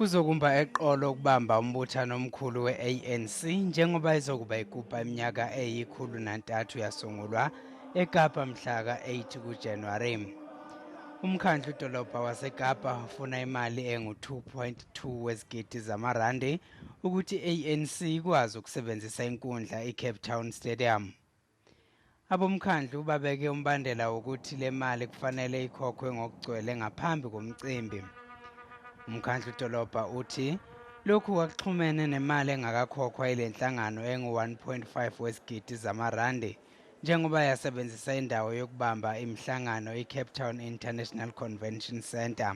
kuzokumba eqolo ukubamba umbuthano omkhulu we-anc njengoba izokuba ikupa iminyaka eyikhulu nantathu yasungulwa ekapa mhla ka-8 kujanuwari umkhandlu dolobha wasekapa ufuna imali engu-2.2 wezigidi zamarandi ukuthi i-ANC ikwazi ukusebenzisa inkundla iCape Town Stadium. Abomkhandlu babeke umbandela wokuthi le mali kufanele ikhokhwe ngokugcwele ngaphambi komcimbi. Umkhandlu dolobha uthi lokhu kwakuxhumene nemali engakakhokhwa ile nhlangano engu-1.5 wesigidi zamarandi njengoba yasebenzisa indawo yokubamba imihlangano iCape Town International Convention Centre.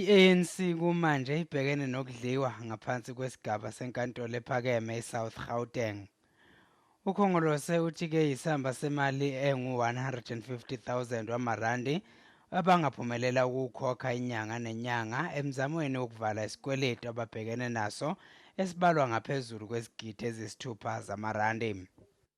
I-ANC kumanje ibhekene nokudliwa ngaphansi kwesigaba senkantolo ephakeme eSouth Gauteng. UKhongolose uthi ke yisamba semali engu-150,000 wamarandi abangaphumelela ukuwukhokha inyanga nenyanga emzamweni wokuvala isikweletu ababhekene naso esibalwa ngaphezulu kwezigidi ezisithupha zamarandi.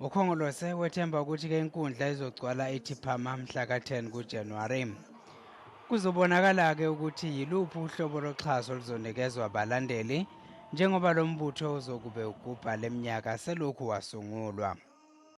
ukhongolose wethemba ukuthi ke inkundla izogcwala ithi phama mhla ka-10 kujanuwari kuzobonakala-ke ukuthi yiluphi uhlobo loxhaso oluzonikezwa abalandeli njengoba lo mbutho uzokube ugubha le minyaka selokhu wasungulwa